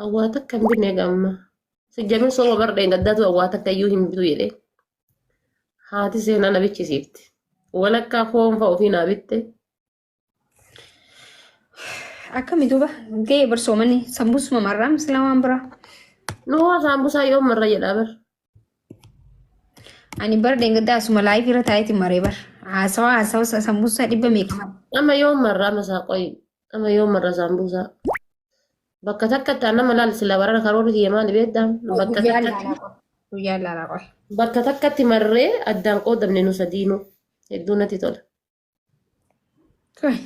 Awwaa takka hin binne gamma. Sijjamin soba bar dheengaddaatu awwaa takka iyyuu hin bitu jedhee. Haati seenaa na bichisiifte. Walakkaa foon fa'a ofii naa bitte. Akkami duuba ga'ee barsoomanii sambuusuma marraa misila waan biraa. Nuwaa saambusaa yoom marra jedhaa bar. Ani bara deengaddaa asuma laayif irra taa'eeti maree bar. Haasawa haasawa sa- sambuusaa dhibba meeqa mara. Amma yoo marraa masaa qoyi. Amma yoo marra saambuusaa. Bakka takkatti aan nama laal sila barana karoorri kiyya maali beektaa? Bakka Guyyaa takkatti laalaa qoy. Guyyaa laalaa qoy. bakka takkatti marree addaan qoodamne nu sadiinuu. Hedduu natti tola. Qoy.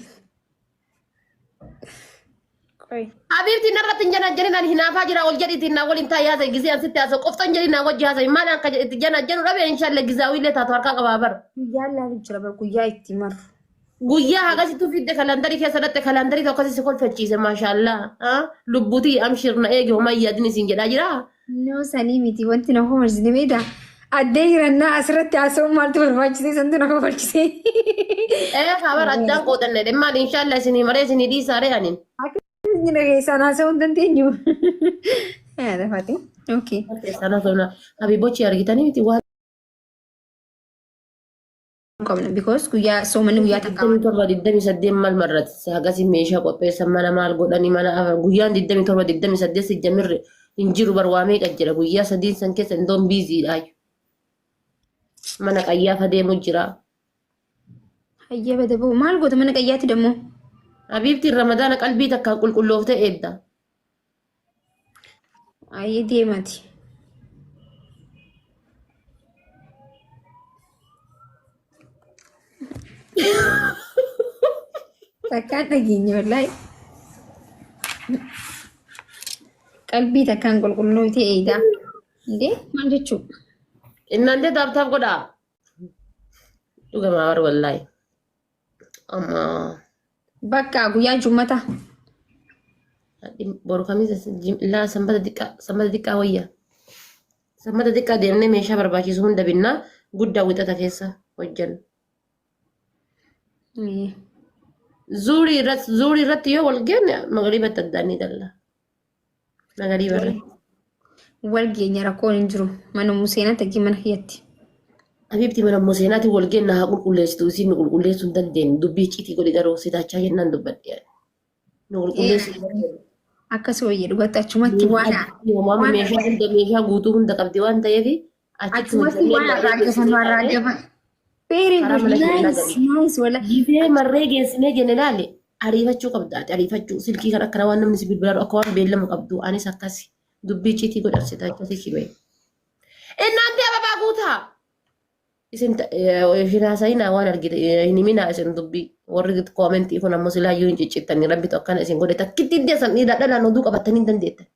Qoy. Habiibti narratti hin janajjanin ani hinaafaa jira ol jedhiitiin naa waliin taa'ee haasa'e gisee an sitti haasa'u qoftan jedhiin naa wajji haasa'e maal akka itti janajjanu dhabe inshaallah gizaawii illee taatu harkaa qabaa bara. Guyyaa ilaalu jira bar guyyaa itti maru. Guyyaa hagasitu fidde kalandarii keessa dhatte kalandarii tokko si kolfachiise maashaallah lubbutii amshir na eegi homaa yaadin isin jedhaa jiraa. No sanii miti wanti na kofalchise beektaa? Addee hirannaa asirratti haasa'uun maaltu barbaachise santu na kofalchise. Ee habar addaan qoodanne dhe maal inshaalla isinii maree isinii dhiisaaree anin. Akkamitti na keessaan haasa'uu hin dandeenyu? Yaa lafate. Okay. Keessaan haasofna habibochi argitanii miti waan qabna because guyyaa soomanni guyyaa takka waan 27 mal marrati sagasi meeshaa qopheessan mana maal godhani mana afar guyyaan 27 28 si jamirre hin jiru bar waa meeqa jira guyyaa sadiin san keessa indoon biiziidha mana qayyaafa deemu jira hayyee bada ba'u maal goota mana qayyaatti dammoo habiibtiin ramadaana qalbii takkaan qulqulloofte eedda Ayi deemati. Takkaan dhageenya wallaahi. Qalbii takkaan qulqulloofte eegaa. Indee maal jechuu? Innaan jee taaptaaf godhaa. Dhugamaa warri wallaahi. Amma Bakka guyyaa jummata. boru kamiisa laa sanbata xiqqaa sanbata xiqqaa wayya. Sanbata xiqqaa deemnee meeshaa barbaachisu hunda binnaa guddaa wixata keessa hojjan. Zuurii irratti zuurii irratti yoo wal geenne magariibatti addaan ni galla. Nagarii barre. Wal geenya rakkoon hin jiru. Mana museenaa takkii mana kiyyatti. Habiibti mana museenaatiin wal geenna haa qulqulleessitu isiin nu qulqulleessuu hin dandeenye dubbii citii godhi garuu sitaachaa jennaan dubbadhe. Nu qulqulleessuu hin dandeenye. Akkas wayya dhugatti achumatti waan Meeshaa hunda meeshaa guutuu hunda qabdi waan ta'eef Achumatti waan har'aa gafannu har'aa gafannu. Very Karaa good. mana keenya Nice, galii. nice. Wala. Gibee marree geessinee jenne laale ariifachuu qabda ati ariifachuu silkii kan akkana waan namni si bilbilaadhu akka waan beellama qabdu anis akkasi dubbii ciitii godhabsita akkasi kibee. Innaanti ababaa guutaa. Isin ta- eh, hin haasa'inaa waan argite eh, hin himinaa isin dubbii warri koomentii kun ammoo silaayyuu hin ciccittan rabbitu akkana isin godhe takkitti iddeessan dhiiraa dhalaan oduu qabattanii hin dandeettan.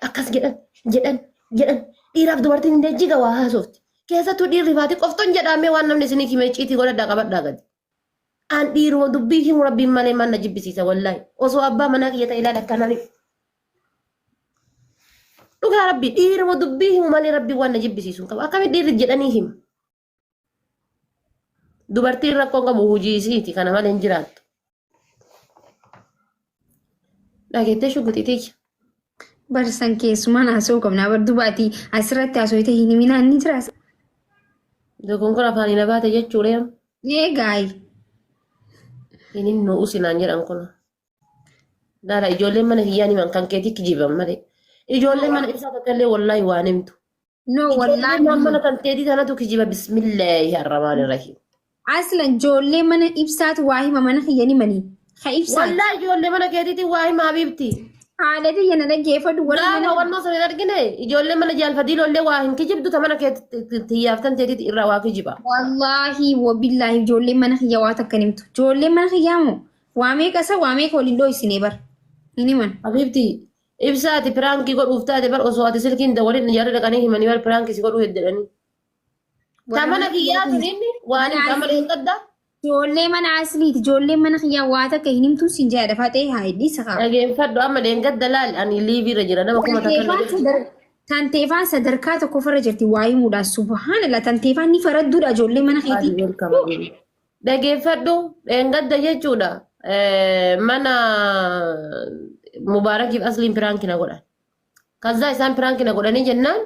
Akkas jedhan jedhan jedhan dhiiraaf dubartiin hin deejjiga waa haasofti. Keessattuu dhiirri faati qofton jedhaamee waan namni isinii himee ciitii godhadhaa qabadhaa gadi. Aan dhiiruma dubbii himu rabbiin malee maal na jibbisiisa wallaahi. Osoo abbaa manaa kiyya ta'e ilaala akkanaan himu. Dhugaa rabbi dhiiruma dubbii himu malee rabbiin waan na jibbisiisu hin qabu. Akkamitti dhiirri jedhanii himu? Dubartiin rakkoon qabu hojii isiiti kana malee hin jiraattu. Dhageettee shugguxiitii. Barsan keessumaan haasa'uu qabna. Bar dubaati asirratti haasawite hin himinaan ni jiraas. Dogoon kun afaan hin abaate jechuudha. Eegaayi. Hin hin nu'u sinaan jedhan kun. Daala ijoolleen mana kiyyaan himan kan keetii kijiban malee. Ijoolleen mana ibsaa tokko illee wallaahi waan himtu. No Ijoollee wallahi. maan mana kan teetii tanatu kijiba bismillaahi arramaani rahiim. Aslan ijoollee mana ibsaatu waa hima mana kiyya ni manii. Ka ibsaati. Wallaa ijoollee mana keetiitiin waa himaa biibti. Haadha tiyya na dhaggeeffadhu warri Gaafa mana wannoo sana hin argine ijoollee mana jaalfadii lollee waa hin kijibdu ta mana keetti tiyyaaftan teetiiti irraa waa kijiba. Wallaahi wabillaahi ijoolleen mana kiyya waa takka nimtu. Ijoolleen mana kiyyaa moo waa meeqa isa waa meeqa waliin dhooysinee bar. Hin himan. Habiibti Ibsaa ati piraankii godhuuf taate bar osoo ati silkiin dawwalin jarri dhaqanii himanii bar piraankii si godhuu heddeedhanii. Warra Tamana mana kiyyaa kiyyaa tuniin waan hin Mana qamale hin qadda. Ijoollee mana asliiti. Ijoollee mana kiyyaa waa takka hin himtuun siin jaadha faxee haa hidhii sakaa. Dhageeffadhu amma deengadda laal ani liivii irra jira nama kuma takka Tanteefaan sadar tanteefaan sadarkaa tokkoffarra jirti waa himuudhaan subhaanallah tanteefaan ni faradduudha ijoollee mana keetii. Beelkama beelkama. Dhageeffadhu dheengadda jechuudha mana mubaarakiif asliin piraanki na godhan. Kazzaa isaan piraanki na godhanii jennaan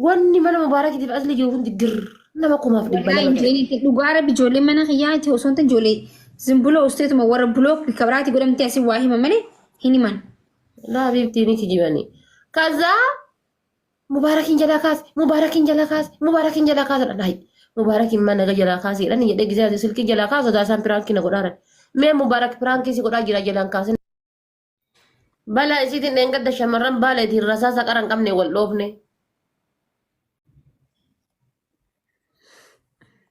wanni mana mubaarakiitiif aslii jiru hundi girr nama kumaaf dhibba Wallahi lama. jeeni dhugaa rabbi ijoollee mana kiyyaati osoo hin ta'in ijoollee zimbuloo usteetuma warra buloo kabiraati godhamtee asii waa hima malee hin himan. Laa biiftii ni kijibanii. Kazzaa Mubaarakiin jalaa kaase, Mubaarakiin jalaa kaase, Mubaarakiin jalaa kaase dha dhahi. Mubaarakiin mana naga jalaa kaase jedhan jedhee gisee ati silkii jalaa kaase odaa isaan piraankii na godhaaran. Mee Mubaarak piraankii si godhaa jira jalaan kaasin. Balaa isiitiin dheengadda shamarran baala itiin rasaa saqara hin qabne wal dhoofne.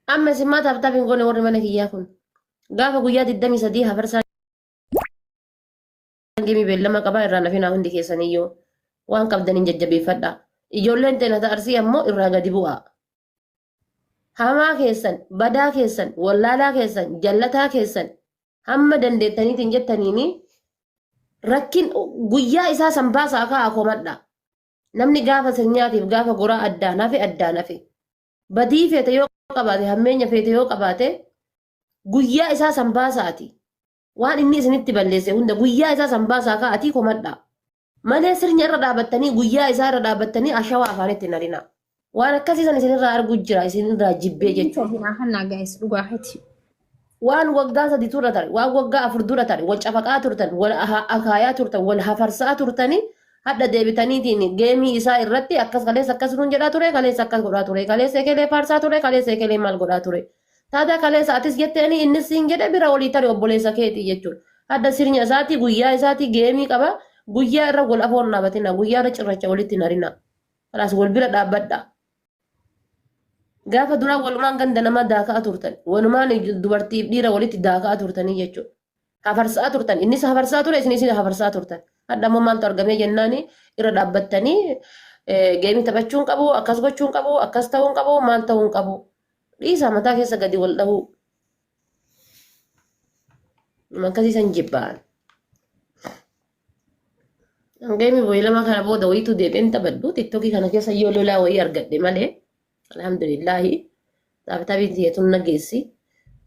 Amma isin maa taaptaaf hin goone warri mana kiyyaa kun. Gaafa guyyaa 23 hafarsaa Isaan geemii beellama qabaa irraa nafinaa hundi keessaniyyuu waan qabdaniin jajjabeeffadha. Ijoolleen teena ta'arsii ammoo irraa gadi bu'aa. Hamaa keessan, badaa keessan, wallaalaa keessan, jallataa keessan hamma dandeettaniitiin jettaniini rakkin guyyaa isaa san baasaa ka'aa komadha. Namni gaafa sirnyaatiif gaafa goraa addaan hafe addaan hafe. Badii feete yoo qabaate hammeenya feete yoo qabaate guyyaa isaa san baasaati. Waan inni isinitti balleesse hunda guyyaa isaa san baasaa kaa atii komadhaa. Malee sirnya irra dhaabattanii guyyaa isaa irra dhaabattanii ashawaa afaanitti hin harinaa. Waan akkasii san isinirraa arguu jira isinirraa jibbee Inni jechuudha. too biraa hannaa gaa'is dhugaa keeti. waan waggaa sadi turra tare waan waggaa afur dura tare wal cafaqaa turtan wal aha- akaayaa turtan wal hafarsaa turtanii hadha deebitaniitiin geemii isaa irratti akkas kaleessa akkas nuun jedhaa ture kaleessa akkas godhaa ture kaleessa ekelee faarsaa ture kaleessa ekelee maal godhaa ture Taadaa kaleessa atis jetteeni innis siin jedhe bira olii tari obboleessa keeti jechuudha. Hadda sirnya isaati guyyaa isaati geemii qaba guyyaa irra wal afoon dhaabatina guyyaa irra cirracha walitti narina. Kalaas wal bira dhaabbadha. Gaafa duraa walumaan ganda namaa daaka'a turtan walumaan dubartiif dhiira walitti daaka'a turtanii jechuudha. hafarsaa turtan innis hafarsaa ture isinis hafarsaa turtan hadha immoo maaltu argamee jennaani irra dhaabbattanii geemii taphachuun qabu akkas gochuun qabu akkas ta'uun qabu maal ta'uun qabu dhiisaa mataa keessa gadi wal dhahuu akkasii san jibbaan geemii boyi lama kana booda wayiitu deebi'een taphadhu tiktokii kana keessa yoo lolaa wayii argadhe malee Alhamdulillaahi taabitaabiin siyyatuun nageessi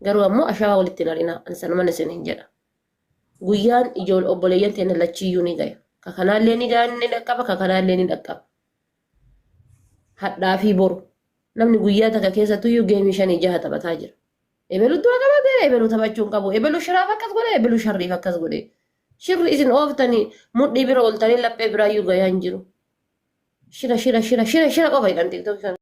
garuu ammoo ashaawaa walitti hin harinaa ani sanuman isin hin jedha. Guyyaan ijool obboleeyyan teenya lachiyyuu ni gaya. Ka kanaallee ni gaya ni dhaqqaba ka kanaallee ni dhaqqaba. Hadhaa fi boru. Namni guyyaa takka keessattuyyuu geemii shanii jaha taphataa jira. Ebelu du'a qabate ebelu taphachuu hin qabu. Ebelu shiraaf akkas godhe ebelu sharriif akkas godhe. Shirri isin ooftanii mudhii bira ooltanii laphee biraayyuu gayaa hin jiru. Shira shira shira shira shira qofa jedhan tiktookii kana.